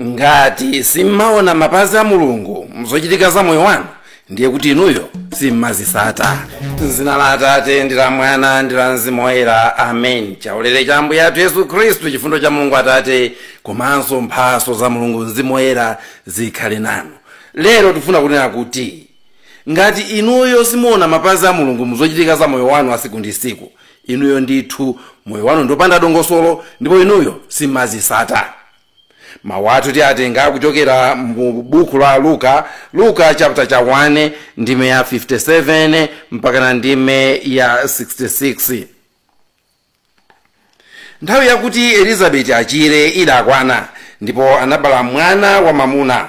ngati simmaona mapazi a mulungu mzochitika za moyo wanu ndiye kuti inuyo simmazitsata m'dzina la atate ndi la mwana ndi la mzimu woyera amen chaulere cha ambuye athu yesu khristu chifundo cha mulungu atate komanso mphatso za mulungu mzimu woyera zikhale nanu lero tifuna kunena kuti ngati inuyo simuona mapazi a mulungu mzochitika za moyo wanu wa tsiku ndi tsiku inuyo ndithu moyo wanu ndopanda dongosolo ndipo inuyo simmazitsata mawu athu tiatenga kuchokera mu buku la luka luka chapter cha 1 ndime ya 57 mpaka ndime ya 66 nthawi yakuti elizabeti achire idakwana ndipo anabala mwana wamwamuna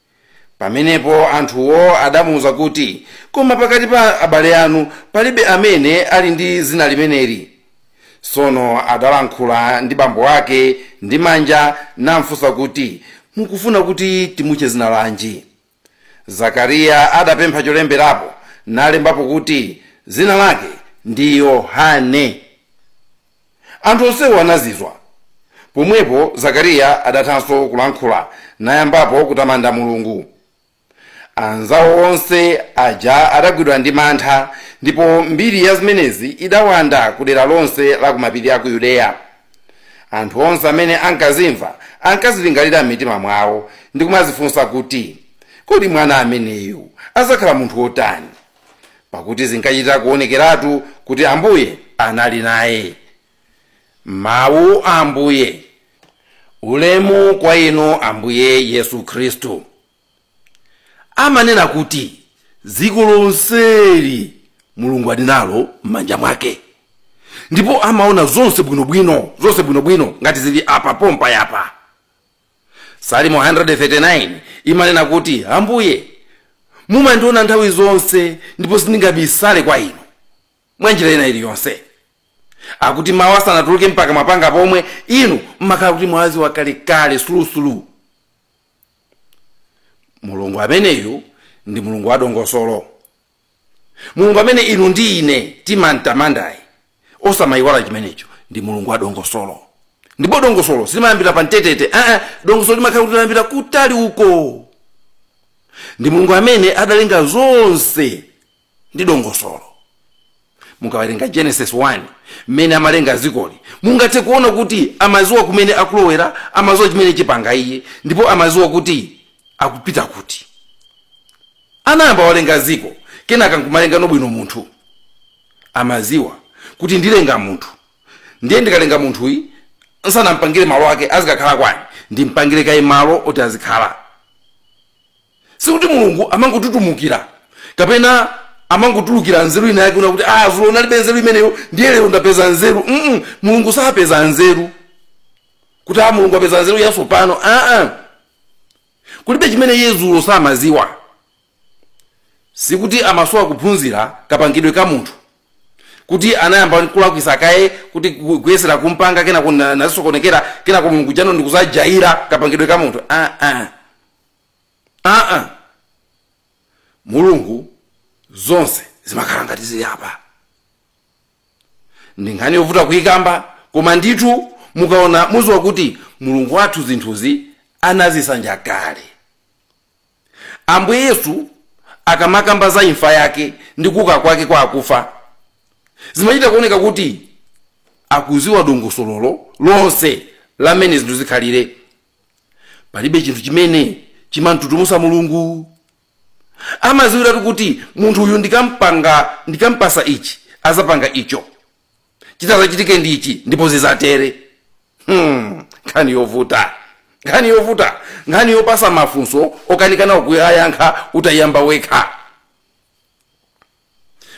Pamenepo anthuwo adamuuza kuti, Koma pakati pa abale anu palibe amene ali ndi dzina limeneli. Tsono adalankhula ndi bambo wake ndi manja namfunsa kuti, Mukufuna kuti timutche dzina lanji? Zakariya adapempha cholemberapo nalembapo kuti, Dzina lake ndi Yohane. Anthu onsewo anazizwa. Pomwepo Zakariya adathanso kulankhula, nayambapo kutamanda Mulungu. Anzao onse aja adagwidwa ndi mantha, ndipo mbiri ya zimenezi idawanda ku dera lonse la ku mapiri a ku Yudeya. Anthu onse amene ankazimva ankazilingalira m'mitima mwao ndi kumadzifunsa kuti, Kodi mwana ameneyu adzakhala munthu wotani? pakuti zinkachita kuonekeratu kuti ambuye anali naye mawu a ambuye ulemu kwa inu ambuye yesu khristu amanena kuti dziko lonseli mulungu ali nalo m'manja mwake ndipo amaona zonse bwinobwino zonse bwinobwino ngati zili apa pompa yapa salimo 139 imanena kuti ambuye mumandiona nthawi zonse ndipo sindingabisale kwa inu mwa njira ina iliyonse akuti mawu asanatuluke m'kamwa mwanga momwe inu mmakhala kuti mwawadziwa kalekale sulusulu mulungu ameneyu ndi mulungu wadongosolo mulungu amene inu ndi ine timamtamandayi osamayiwala chimenecho ndi mulungu wa dongosolo ndipo dongosolo silimayambira pa mtetete aa dongosolo limakhala kuti layambira kutali uko ndi mulungu amene adalenga zonse ndi dongosolo mukawerenga genesis 1 mmene amalenga zikoli mungathe kuona kuti amaziwa kumene akulowera amaziwa chimene atapange iye ndipo amaziwa kuti akupita kuti anayamba walenga ziko kenaka nkumalengano bwino munthu amaziwa kuti ndilenga munthu ndiye ndikalenga munthuyi nsanampangire malo ake azikakhala kwa ndani ndimpangire kaye malo oti azikhala sikuti mulungu amangotutumukira kapena amangotulukira nzeru ina yake yonena kuti ah zulo ndinalibe nzeru imeneyo ndiye lero ndapeza nzeru mm mulungu sapeza nzeru kuti a mulungu apeza nzeru yatsopano aa kulibe chimene iye zulo samaziwa sikuti amasowa kuphunzira kapangidwe ka munthu kuti anayamba kulakwisa kaye kuti gu- kuyesera kumpanga kenako na- nazisokonekera kenako mulungu jano ndikuzajaira kapangidwe ka munthu aa aa mulungu zonse zimakhala ngati zili apa ndi nkhani yovuta kuyikamba koma ndithu mukaona muziwa kuti mulungu wathu zinthuzi anazisanja kale ambuye yesu akamakamba za imfa yake ndi kuuka kwake kwa akufa zimachita kuoneka kuti akuziwa dongosololo lonse la mmene zinthu zikhalire palibe chinthu chimene chimamtutumusa mulungu amaziwiratu kuti munthu uyu ndikampanga ndikampasa ichi azapanga icho chitazachitike ndi ichi ndipo zizatere hmm, nkhani yovuta nkhani yovuta nkhani yopasa mafunso okanikana kuyayankha utayamba wekha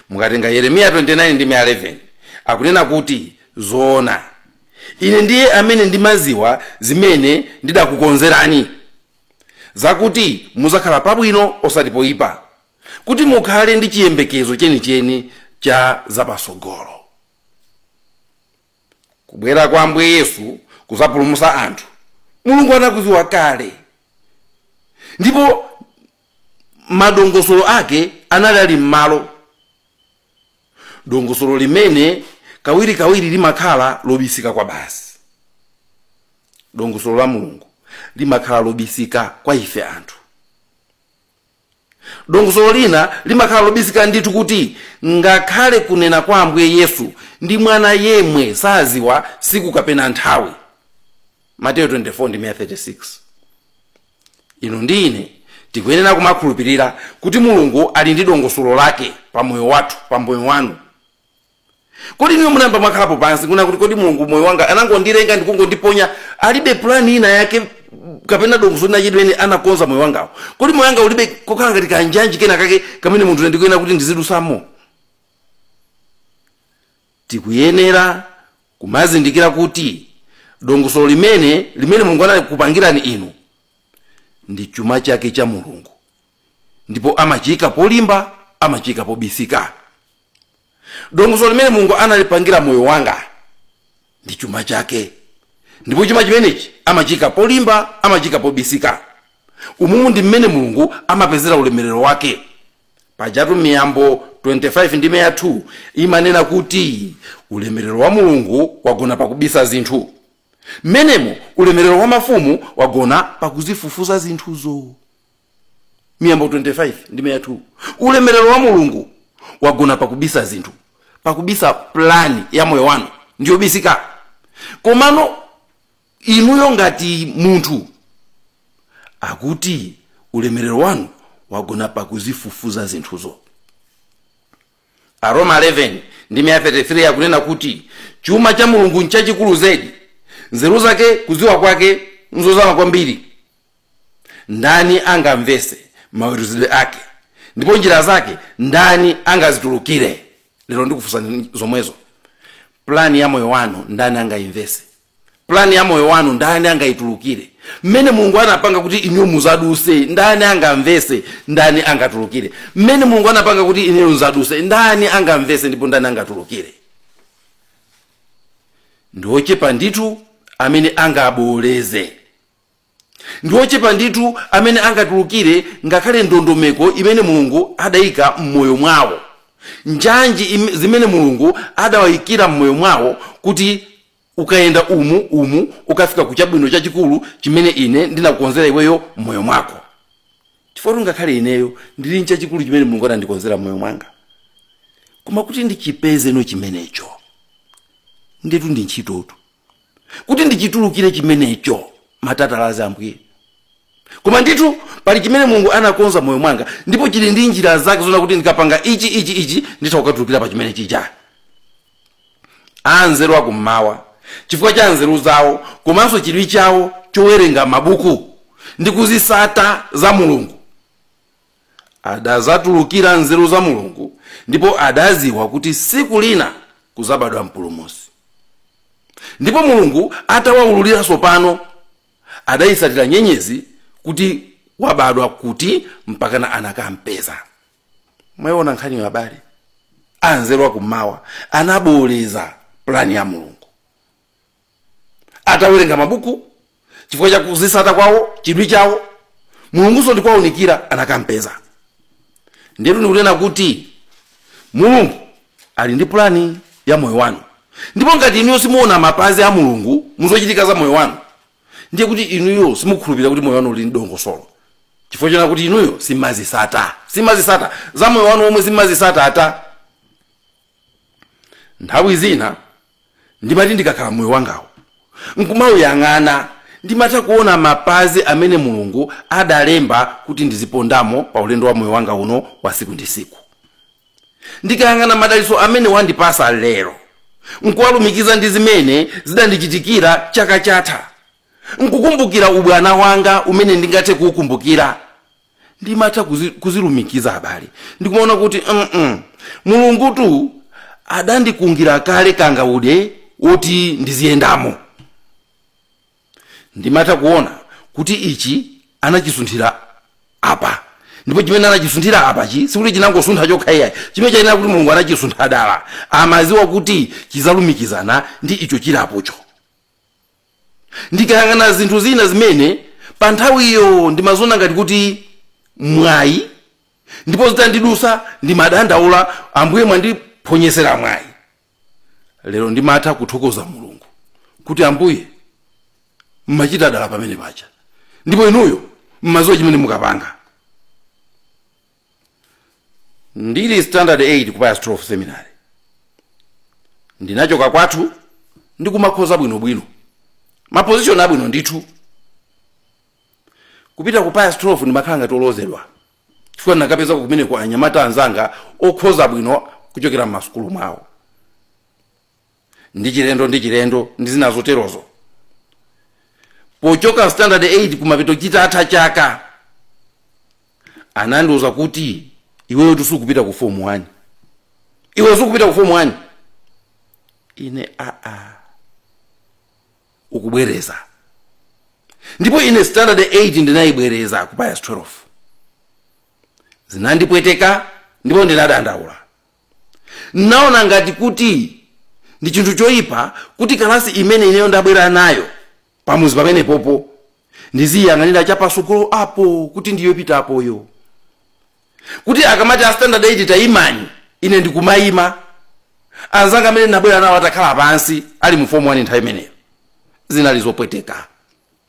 Mukatenga Yeremiya 29 ndime 11 akunena kuti zoona Ine ndiye amene ndimaziwa zimene ndidakukonzerani zakuti muzakhala pabwino osati poipa kuti mukhale ndi chiyembekezo chenicheni cha zapasogolo. Kubwera kwa Ambuye Yesu kuzapulumusa anthu Mulungu anakuziwa kale ndipo madongosolo ake anali ali m'malo dongosolo limene kawirikawiri limakhala lobisika kwa basi dongosolo la mulungu limakhala lobisika kwa ife anthu dongosolo lina limakhala lobisika ndithu kuti ngakhale kunena kwa ambuye yesu ndi mwana yemwe saziwa siku kapena nthawi Mateyu 24 ndime ya 36 inu ndi ine tikuyenera kumakhulupirira kuti mulungu ali ndi dongosolo lake pa moyo wathu pa moyo wanu kodi inuyo munayamba mwakhalapo pansi kuona kuti kodi mulungu moyo wanga anangondilenga ndikungondiponya alibe plani ina yake kapena dongosolo lina lake limene anakonza moyo wangawu kodi moyo wanga ulibe kokhala ngati kanjanji kena kake kamene munthu ndikuyenera kuti ndizidutsamo Tikuyenera kumazindikira kuti dongosolo limene limene Mulungu analikupangirani inu ndi chuma chake cha Mulungu ndipo amachiyika polimba, amachiyika pobisika. Dongosolo limene Mulungu analipangira moyo wanga ndi chuma chake ndipo chuma chimenechi amachiyika polimba, amachiyika pobisika. Umumu ndi mmene Mulungu amapezera ulemerero wake. pajatu miyambo 25 ndime ya 2 imanena kuti ulemerero wa mulungu wagona pakubisa zinthu mmenemo ulemerero wa mafumu wagona pakuzifufuza zinthuzo miyambo 25 ndime ya 2 ulemerero wa mulungu wagona pakubisa zinthu pakubisa plani ya moyo wanu ndiyobisika komano inuyo ngati munthu akuti ulemerero wanu wagona pakuzifufuza zinthuzo aroma 11 ndi 33 akunena kuti chuma cha mulungu nchachikulu zedi nzeru zake kudziwa kwake nzozama kwambiri ndani angamvetse maweruzidwe ake ndipo njira zake ndani angazitulukire lero ndikufunsani zomwezo plani ya moyo wanu ndani angayimvetse pulani ya moyo wanu ndani angaitulukire mmene mulungu anapanga kuti inuyo mudzadutse ndani angamvetse ndani angatulukire mmene mulungu anapanga kuti inuyo mudzadutse ndani angamvetse ndipo ndani angatulukire ndiochepa ndithu amene angabooleze Ndi ochepa ndithu amene angatulukire ngakhale ndondomeko imene Mulungu adaika m'moyo mwawo, njanji im, zimene Mulungu adawaikira m'moyo mwawo kuti ukayenda umu, umu ukafika ku chabwino chachikulu chimene ine ndinakukonzera iweyo m'moyo mwako. Chifukwatu ngakhale ineyo ndili nchachikulu chimene Mulungu adandikonzera m'moyo mwanga. Koma kuti ndichipezeno chimenecho, ndetu ndi ntchitotu. kuti ndichitulukire chimenecho matatalazi ambuye koma ndithu pali chimene mulungu anakonza moyo mwanga ndipo chili ndi njira zake zoona kuti ndikapanga ichi ichi ichi nditha kukatulukira pa chimene chija anzeru akummawa chifukwa cha nzeru zawo komanso chidwi chawo chowerenga mabuku ndi kuzitsata za mulungu adazatulukira nzeru za mulungu ndipo adaziwa kuti siku lina kuzabadwa mpulumusi ndipo mulungu atawawululira sopano adayisatira nyenyezi kuti wabadwa kuti mpakana anakampeza mwayiona nkhaniyo abale anzeru akummawa anaboleza pulani ya mulungu atawerenga mabuku chifukwa cha kuzisata kwawo chidwi chawo mulungunso ndikuwaunikira anakampeza ndiyeno ndikunena kuti mulungu ali ndi pulani ya moyo wanu ndipo ngati inuyo simuona mapazi a mulungu muzochitika za moyo wanu ndiye kuti inuyo simukhulupirira kuti moyo wanu uli ndi dongosolo chifukwa choona kuti inuyo simazisata simazisata za moyo wanu omwe simazisata ata nthawi zina ndimati ndikakhala moyo wangawo nkumauyang'ana ndimatha kuona mapazi amene mulungu adalemba kuti ndizipondamo pa ulendo wa moyo wanga uno wa siku ndi siku ndikayang'ana madalitso amene wandipasa lero nkuwalumikiza ndi zimene zidandichitikira chaka chatha nkukumbukira ubwana wanga umene ndingathe kuukumbukira ndimatha kuzi- kuzilumikiza abale ndikumaona kuti mm mulungutu adandikungira kale kangaude woti ndiziyendamo ndimatha kuona kuti ichi anachisunthira apa ndipo chimene anachisunthira apachi sikuti chinangosuntha chokha iyayi chimenecho ayenera kuti mulungu anachisuntha dala amaziwa kuti chizalumikizana ndi icho chili apocho ndikayang'ana zinthu zina zimene pa nthawiyo ndimaziona ngati kuti mwayi ndipo zitandidusa ndimadandaula ambuye mwandiphonyesera mwayi lero ndimatha kuthokoza mulungu kuti ambuye mmachita dala pamene paja ndipo inuyo mmaziwa chimene mukapanga ndili standard 8 ku pius 12 seminary ndinachoka kwathu ndikumakhoza bwinobwino mapozishoni abwino ndithu kupita ku pius 12 ndimakhala ngati olozedwa chifukwa ndinakapeza kumeneko anyamata anzanga okhoza bwino kuchokera m'masukulu mwawo ndi chilendo ndi chilendo ndi zina zoterozo pochoka standard 8 kumapeto chitatha chaka anandiuza kuti iweyo tisukupita ku form 1 iwe sukupita ku form 1 ine aa ukubwereza ndipo ine standard 8 ndinayibwereza ku pius 12 zinandipweteka ndipo ndinadandaula naona ngati kuti ndi chinthu choyipa kuti kalasi imene ineyo ndabwera nayo pamuzi pamenepopo ndiziyang'anira chapasogolo apo kuti ndiyopita poyo kuti akamati a standard 8 tayimani ine ndikumayima anzanga amene ndabwera nawo atakhala pansi ali mu fomu 1 nthawi imeneyo zinali zopweteka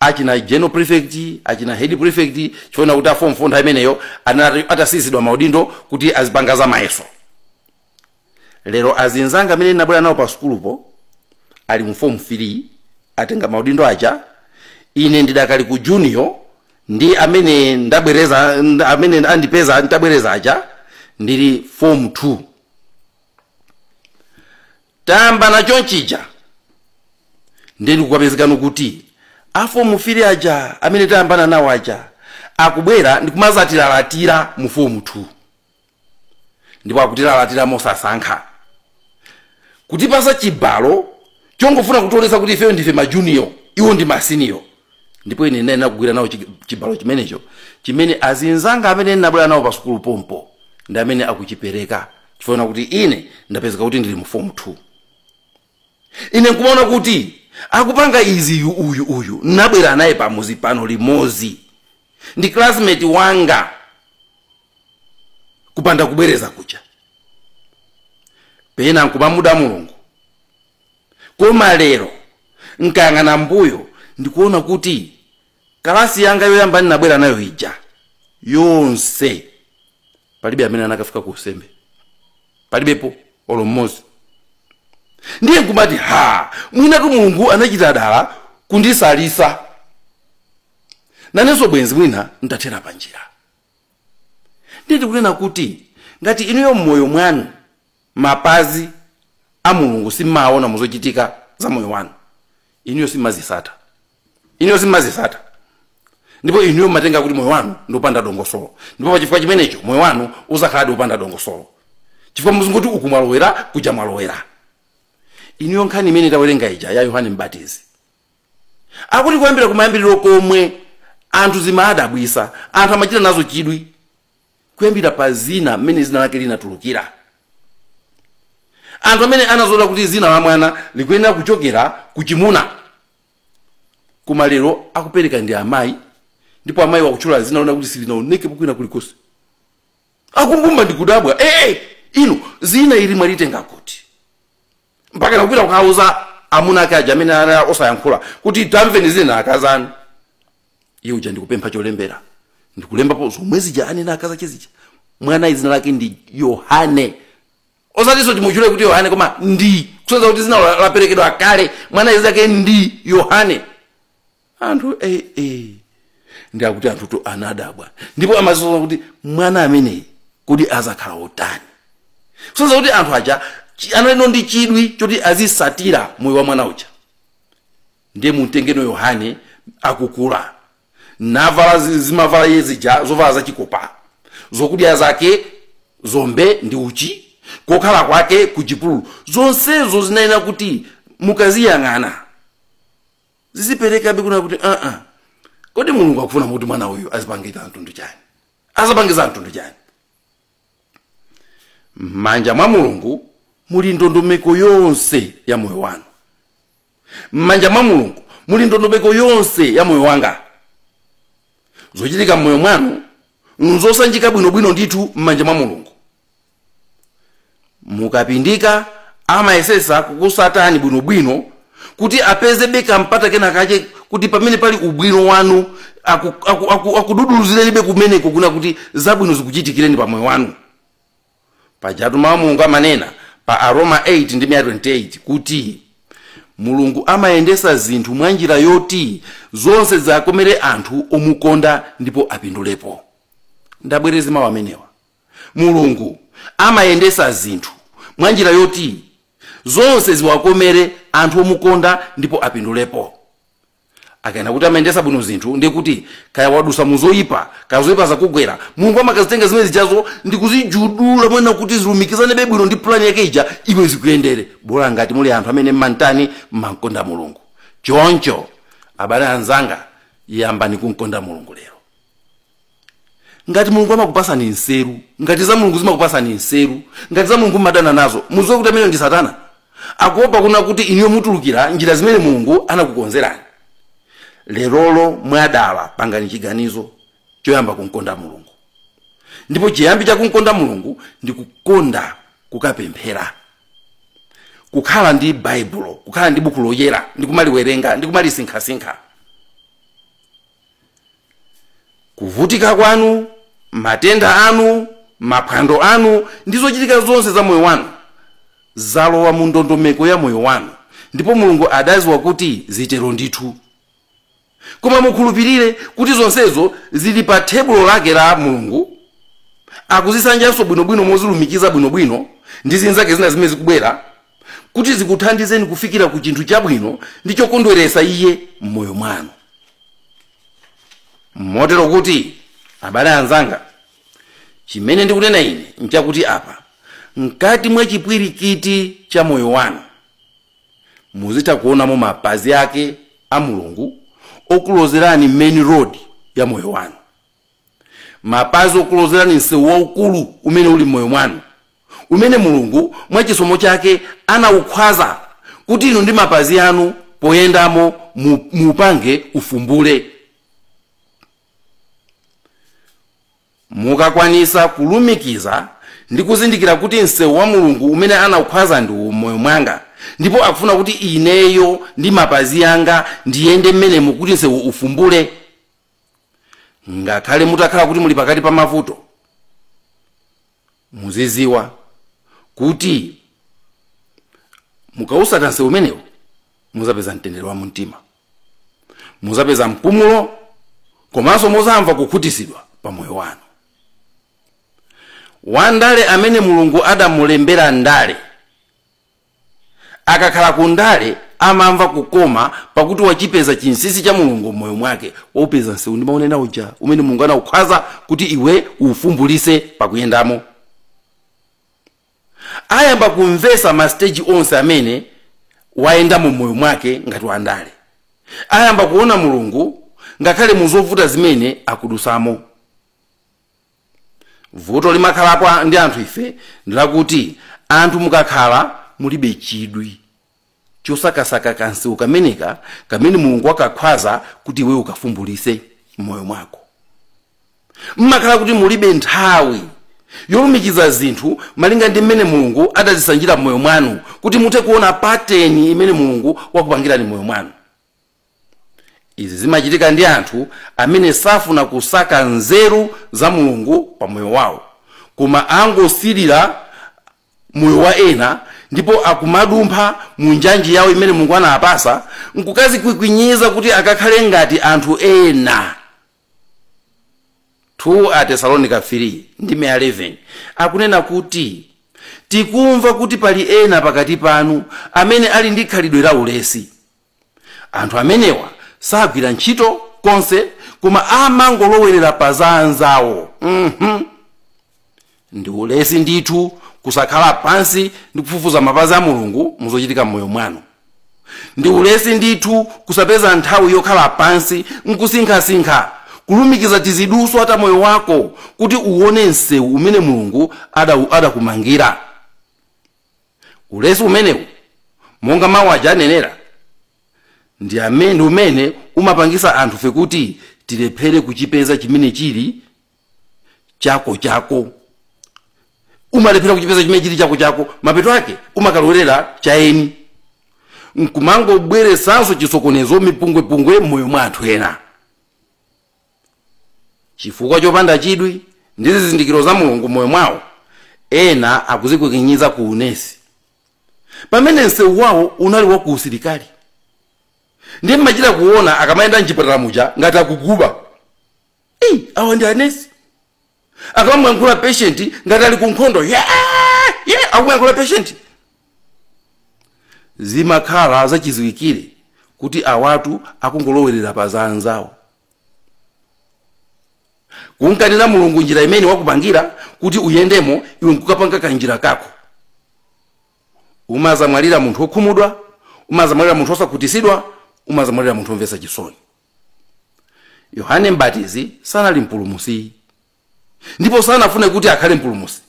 achina general prefect achina head prefect chifukwa choti a form 4 nthawi imeneyo anali atasiyitsidwa maudindo kuti azipanga za mayeso lero azinzanga amene ndabwera nawo pa sukulupo ali mu form 3 atenga maudindo aja ine ndidakali ku junior ndi amene ndabwereza nd- amene andipeza nditabwereza aja ndili form 2 tayambana chonchija ndiye ndikukapezekano kuti afomu fili aja amene tayambana nawo aja akubwera ndikumazatilalatira mu fomu 2 ndipo akutilalatira mosasankha kutipasa chibalo chongofuna kutionetsa kuti ifeyo ndife majuniyo iwo ndi masiniyo ndipo ine ndinali nakugwira nawo chi- chibalo chimenecho chimene azinzanga amene ndabwera nawo pa sukulu pompo ndi amene akuchipereka chifukwa kuti ine ndapezeka kuti ndili mu fomu 2 ine nkumaona kuti akupanga izi yu uyu uyu nabwera naye pamuzi pano limozi ndi classmate wanga kupanda kubwereza kuja pena nkumamuda mulungu koma lero nkayang'ana mbuyo ndikuona kuti Kalasi yanga yoyamba ndinabwera nayo ija yonse, palibe amene anakafika ku usembe, palibepo olo mmodzi. Ndiye nkumati ha, mwinatu Mulungu anachita dala kunditsalitsa nanenso, bwenzi mwina ntathera panjira. Ndiye ndikunena kuti ngati inuyo m'moyo mwanu mapazi a mulungu simmaawona muzochitika za moyo wanu inuyo simmazisata inuyo simmazisata ndipo inuyo mmatenga kuti moyo wanu ndi opanda dongosolo ndipo pachifukwa chimenecho moyo wanu uzakhaladi opanda dongosolo chifukwa muzingoti uku mwalowera kuja mwalowera inuyo nkhani imene tawerenga ija ya yohane mbatizi akuti kuyambira kumayambiriro komwe anthu zimaadabwisa anthu amachita nazo chidwi kuyambira pa zina mmene zina lake linatulukira anthu amene anazolowera kuti zina la mwana likuyenera kuchokera ku chimuna koma lero akupereka ndi amayi ndipo amayiwo akutchula zina loona kuti silinaoneke kwina kulikonse akumbumba ndikudabwa ee inu zina ili mwalitenga kuti mpaka nakupita kukauza amuna ake aja amene anali osayankhula kuti tamveni zina akazanu iye uja ndi kupempha cholembera ndi kulembapo zomwe zija anena akazi ache zija mwana izina lake ndi yohane osatinso timutchule kuti yohane koma ndi kusonyeza kuti dzina la- laperekedwa kale mwana izina lake ndi yohane anthu eh, eh. ndi akuti anthutu anadabwa ndipo amazifunsa kuti mwana ameneyi kodi azakhala wotani kusonyeza kuti anthu aja chi- anali ndi chidwi choti azisatira moyo wa mwana uja ndiye mumtengeno yohane akukula navala zi- zimavala iye zija zovala zachikopa zokudya zake zombe ndi uchi kokhala kwake ku chipululu zonsezo zinayenera kuti mukaziyang'ana ziziperekabe kunena kuti aa kodi mulungu akufuna kuti mwana uyu azapange za mtundu chani azapange za mtundu chani m'manja mwa mulungu muli ndondomeko yonse ya moyo wanu m'manja mwa mulungu muli ndondomeko yonse ya moyo wanga zochitika m'moyo mwanu nzosanjika bwinobwino ndithu m'manja mwa mulungu mukapindika amayesesa kukusatani bwinobwino kuti apezebe kampata kena kache kuti pamene pali ubwino wanu akududuluzirenibe aku, aku, aku kumeneko kunena kuti zabwino zikuchitikireni pa moyo wanu pajatu mawu a mulungu amanena pa aroma 8 ndime ya 28 kuti mulungu amayendesa zinthu mwa njira yoti zonse ziwakomere anthu omukonda ndipo apindulepo ndibwereze mawu amenewa mulungu amayendesa zinthu mwa njira yoti zonse ziwakomere anthu omukonda ndipo apindulepo akanena kuti amayendesa bwino zinthu ndiye kuti kaya wadusa muzoyipa kaya zoyipa zakugwera mulungu amakazitenga zimene zijazo ndikuzijudula monena kuti zilumikizanebe bwino ndi pulani yake ija iwe zikuyendere bola ngati muli anthu amene mmantani mmankonda mulungu choncho abale anzanga yambani kunkonda mulungu lero ngati mulungu amakupasani nseru ngati za mulungu zimakupasani nseru ngati za mulungu mumadana nazo muziwe kuti ameneyo ndi satana akuopa kunena kuti inuyo mutulukira njira zimene mulungu anakukonzerani lerolo mwadala pangani chiganizo choyamba kumkonda mulungu ndipo chiyambi cha kumkonda mulungu ndi kukonda kukapemphera kukhala ndi baibulo kukhala ndi buku loyera ndi kumaliwerenga ndi kumalisinkhasinkha Kuvutika kwanu, matenda anu, maphwando anu, ndi zochitika zonse za moyo wanu zalowa mu ndondomeko ya moyo wanu, ndipo Mulungu adaziwa kuti zitero ndithu. Koma mukhulupirire kuti zonsezo zili pa thebulo lake la Mulungu, akuzisanjanso bwinobwino mozilumikiza bwinobwino ndi zinzake zina zimene zikubwera, kuti zikuthandizeni kufikira ku chinthu chabwino ndi chokondweretsa iye m'moyo mwanu motero kuti abale anzanga chimene ndikunena ine nchakuti apa mkati mwa chipwirikiti cha moyo wanu muzitha kuonamo mapazi ake a mulungu okulozerani main road ya moyo wanu mapazi okulozerani msewu waukulu umene uli m'moyo mwanu umene mulungu mwa chisomo chake anawukhwaza kuti inu ndi mapazi anu poyendamo mu- muupange ufumbule mukakwanisa kulumikiza ndi kuzindikira kuti msewu wa mulungu umene anawukhwaza ndi uwu m'moyo mwanga ndipo akufuna kuti ineyo ndi mapazi anga ndiyende mmenemo kuti msewu ufumbule ngakhale mutakhala kuti muli pakati pa mavuto muziziwa kuti mukawusata nsewu umenewu muzapeza mtendere wa mumtima muzapeza mpumulo komanso muzamva kukhutitsidwa pa moyo wanu wandale amene mulungu adamulembera ndale Akakhala ku ndale amamva kukoma pakuti wachipeza chinsinsi cha Mulungu m'moyo mwake. Waupeza msewu ndimaunena uja umene Mulungu anaukhwaza kuti iwe uufumbulise pakuyendamo. Ayamba kumvesa ma stage onse amene wayendamo m'moyo mwake ngati wandale. Ayamba kuona Mulungu ngakhale muzovuta zimene akudusamo. vuto limakhalapo ndi anthu ife ndilakuti anthu mukakhala mulibe chidwi chosakasaka kansewu kameneka kamene mulungu wakakhwaza kuti iwe ukafumbulise m'moyo mwako mmakhala kuti mulibe nthawi yolumikiza zinthu malinga ndi mmene mulungu adazisanjira m'moyo mwanu kuti muthe kuona pateni imene mulungu wakupangirani m'moyo mwanu Izi zimachitika ndi anthu amene safuna kusaka nzeru za Mulungu pa moyo wawo, koma angosirira moyo wa ena ndipo akumadumpha mu njanji yawo imene Mulungu anawapasa nkukazikwikwinyiza kuti akakhale ngati anthu ena. 2 Atesalonika 3 ndime ya 11 akunena kuti tikumva kuti pali ena pakati panu amene ali ndi khalidwe la ulesi. anthu amenewa sagwira ntchito konse koma amangolowerera pa za anzawo mhm ndi ulesi ndithu kusakhala pansi ndi kufufuza mapazi a mulungu muzochitika m'moyo mwanu ndi ulesi ndithu kusapeza nthawi yokhala pansi nkusinkhasinkha kulumikiza tiziduswa ta moyo wako kuti uone msewu umene mulungu ada- adakumangira ulesi umenewu monga mawu aja anenera ndi umene umapangisa anthu fe kuti tilephere kuchipeza chimene chili chako chako umalephera kuchipeza chimene chili chako chako mapeto ake umakalowerera cha eni nkumangobweresanso chisokonezo mipungwepungwe m'moyo mwa anthu ena Chifukwa chopanda chidwi ndi zizindikiro za Mulungu m'moyo mwawo, ena akuzikwikinyiza ku unesi, pamene msewu wawo unali wa ku usilikali. Ndiye mmachita kuona akamayenda mchipatala muja ngati akuguba. Ei, awa ndi anesi? Akamamuyankhula patient ngati ali ku nkhondo, ye, akumuyankhula patient. Zimakhala zachiziwikire kuti awatu akungolowerera pa za anzawo. kumkanira mulungu njira imene wakupangira kuti uyendemo iwe nkukapanga kanjira kako umazamwalira munthu wokhumudwa umazamwalira munthu wosakhutisidwa umazamwalira munthu womvetsa chisoni yohane mbatizi sanali mpulumusi ndipo sanafune kuti akhale mpulumusi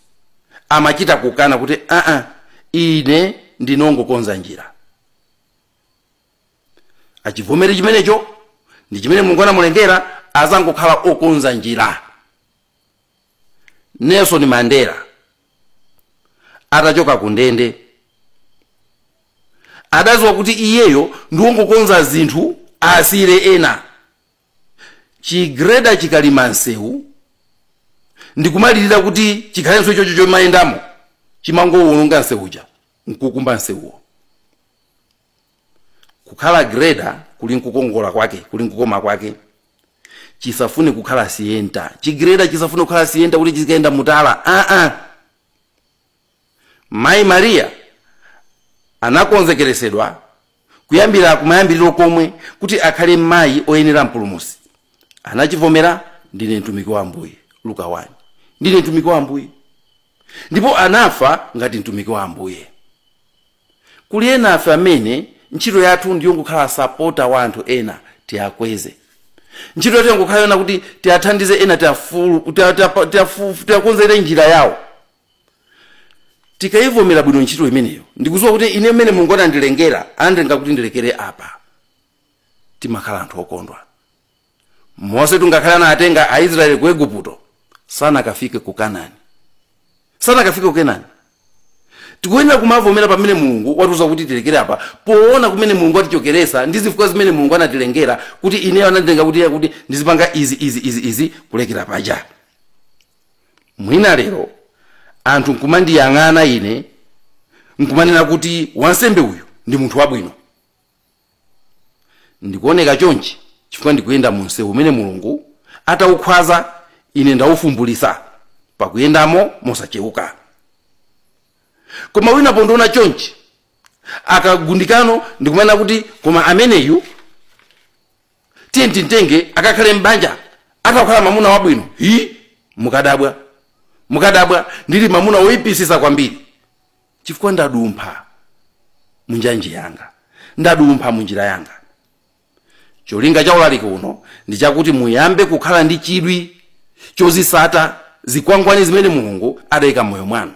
amachita kukana kuti aa ine ndinongokonza njira achivomere chimenecho ndi chimene mulungu anamulengera azangokhala okonza njira nelson mandela atachoka ku ndende adaziwa kuti iyeyo ndiwongokonza zinthu asiyire ena chigreda chikalima msewu ndikumalirira kuti chikhalenso chocho chomayendamo chimangowononga msewuja nkukumba msewuwo kukhala greda kuli nkukongola kwake kuli nkukoma kwake chisafune kukhala sienta chigreda chisafune kukhala sienta kuti chizikaenda mutala aa mayi mariya anakonzekeresedwa kuyambira kumayambiriro komwe kuti akhale mayi oyenera mpulumusi anachivomera ndine mtumiki wa ambuye luka 1 ndine mtumiki wa ambuye ndipo anafa ngati mtumiki wa ambuye Kuli enafe amene ntchito yathu ndiyongokhala asapota wa anthu ena tiakweze. Ntchito yathu yangokhala yonena kuti tiathandize ena tia, tia, tia, tiakonzere njira yawo. Tikaivomera bwino ntchito imeneyo ndikuziwa kuti ine mmene Mulungu anandilengera, anandilenga kuti ndilekere apa, timakhala anthu okondwa. mosetu ngakhale anatenga aisraeli ku eguputo sanakafike ku kanani sanakafike ku kanani tikuyenera kumavomera pamene mulungu watiuza kuti tilekere apa poona kumene mulungu watichokesa ndi zifukwa zimene mulungu anatilengera kuti ineyo ananditenga kuti kuti ndizipanga izi izi izi izi kulekera paja mwina lero anthu nkumandiyang'ana ine nkumanena kuti wansembe uyu ndi munthu wabwino ndikuoneka chonchi chifukwa ndikuyenda mu msewu umene mulungu adaukhwaza ine ndaufumbulisa pakuyendamo mosacheuka koma wina pondiona chonchi akagundikano ndikumanena kuti koma ameneyu tiye timtenge akakhale m'banja adzakhala mamuna wabwino ii mukadabwa mukadabwa ndili mamuna woyipisisa kwambiri chifukwa ndadumpha mu njanji yanga ndadumpha mu njira yanga cholinga cha ulaliki uno ndi chakuti muyambe kukhala ndi chidwi chozisata zikwangwani zimene mulungu adayika mmoyo mwanu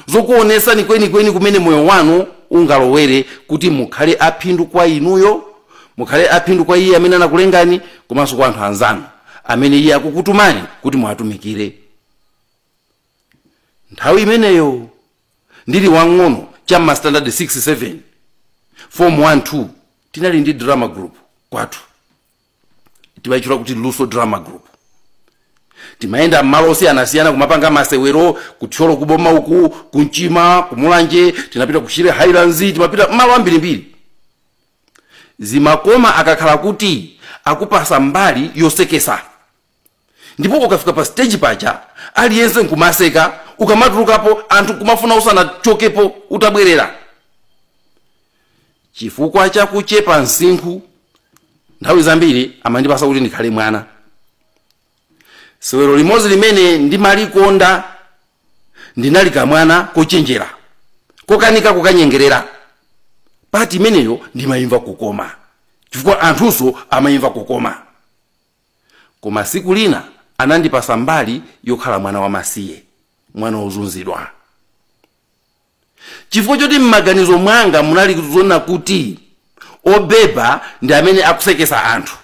zokuonesani kwenikweni kumene moyo wanu ungalowere kuti mukhale aphindu kwa inuyo mukhale aphindu kwa iye amene anakulengani komanso kwa anthu anzanu amene iye akukutumani kuti muwatumikire nthawi imeneyo ndili wang'ono cha mma standard 6 7 form 1 2 tinali ndi drama group kwathu timayitchula kuti luso drama group timayenda m'malo osiyanasiyana kumapanga masewero kuthyolo kuboma uku kumchima kumulanje tinapita kushire highlands timapita m'malo ambirimbiri zimakoma akakhala kuti akupasa mbali yosekesa ndipo ukafika pa stage paja aliyense nkumaseka ukamatulukapo anthu nkumafuna usanachokepo utabwereza chifukwa cha kuchepa msinkhu nthawi zambiri amandipasa kuti ndikhale mwana sewero limodzi limene ndimalikonda ndinali kamwana kochenjera kokanika kukanyengerera pati imeneyo ndimayimva kukoma chifukwa anthunso amayimva kukoma Koma tsiku lina anandipatsa mbali yokhala mwana wamasiye, mwana wozunzidwa. Chifukwa choti m'maganizo mwanga munali zonena kuti obeba ndi amene akuseketsa anthu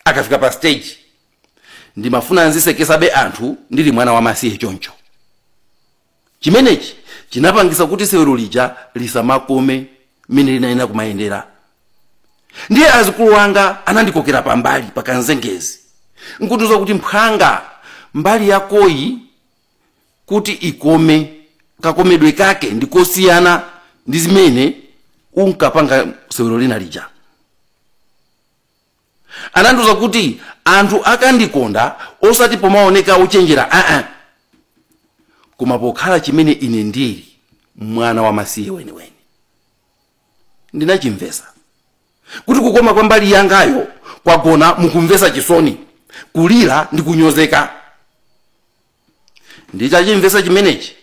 akafika pa stage, ndimafuna nziseketsabe anthu ndili mwana wamasiye choncho. Chimenechi chinapangitsa kuti sewero lija lisamakome mmene linayenera kumayendera. Ndiye azikulu anga anandikokera pambali pa kanzengezi n'kundiuza kuti, Mphwanga, mbali yakoyi kuti ikome, kakomedwe kake ndi kosiyana ndi zimene unkapanga sewero lina lija. anandiuza kuti anthu akandikonda osati pomaoneka uchenjera aa koma pokhala chimene ine ndili mwana wamasiye weniweni ndinachimvesa kuti kukoma kwa mbali yangayo kwagona mukumvesa chisoni kulira ndi kunyozeka nditachimvesa chimenechi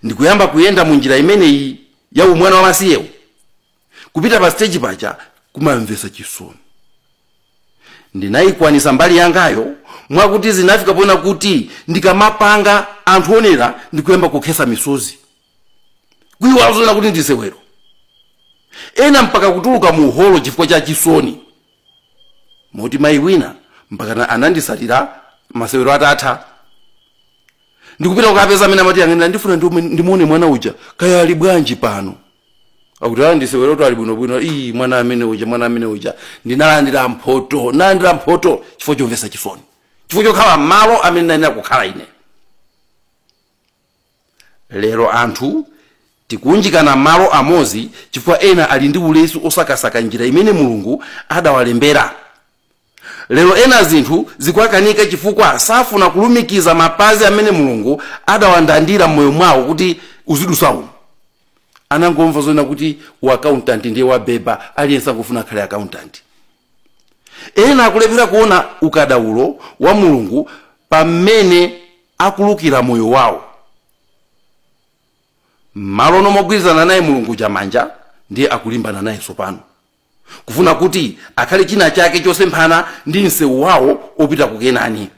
ndikuyamba kuyenda mu njira imeneyi ya umwana wamasiyewu kupita pa stage paja kumamvesa chisoni ndinayikwanisa mbali yangayo mwakuti zinafika poena kuti ndikamapanga anthu onera ndikuyamba kukhesa misozi kuyiwala zoona kuti ndisewero ena mpaka kutuluka mu holo chifukwa cha chisoni moti mayi wina mpaka na- anandisatira masewero atatha ndikupita kukapeza amene amati yang'anira ndifuna ndiume- ndimuone mwana uja kaya ali bwanji pano akuti ayi ndisewero kuti ali bwinobwino iyi mwana amene uja mwana amene uja ndinalandira mphoto ndinalandira mphoto chifukwa chomvetsa chisoni chifukwa chokhala malo amene ndinayenera kukhala ine lero anthu tikuunjikana malo amodzi chifukwa ena ali ndi ulesi osakasaka njira imene mulungu adawalembera lero ena zinthu zikuwakanika chifukwa safuna kulumikiza mapazi amene mulungu adawandandira m'moyo mwawo kuti uzidusa umu anangomva zonena kuti u accountant ndiye wabeba aliyense angofuna akhale accountant ena akulephera kuona ukadaulo wa mulungu pamene akulukira moyo wawo mmalo nomagwirizana naye mulungu chamanja ndiye akulimbana naye tsopano kufuna kuti akhale china chake chosemphana ndi msewu wawo opita ku kenani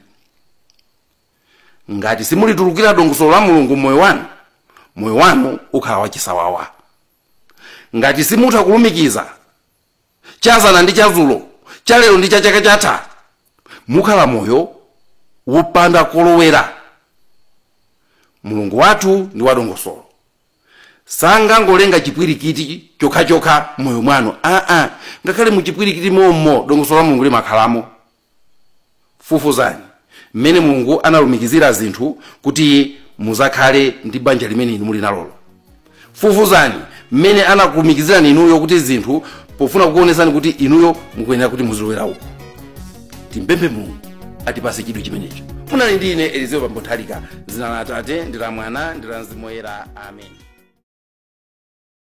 ngati simulitulukira dongosolo la mulungu mmoyo wanu moyo wanu ukhala wachisawawa ngati simutha kulumikiza chazana ndi chazulo chalero ndi cha chaka chatha mukhala moyo wopanda kolowera mulungu wathu ndi wadongosolo sangangolenga chipwirikiti chokhachokha mmoyo mwanu aa ngakhale muchipwirikiti momo dongosolo la mulungu limakhalamo fufuzani mmene mulungu analumikizira zinthu kuti muzakhale ndi banja limene inu muli nalolo fufuzani mmene anakulumikizirani inuyo kuti zinthu pofuna kukuonetsani kuti inuyo mukuyenera kuti muzilowera uku timupemphe mulungu atipase chidwi chimenecho munali ndi ine elizeo bambo nthalika zina la atate ndi la mwana ndi la mzimu woyera amen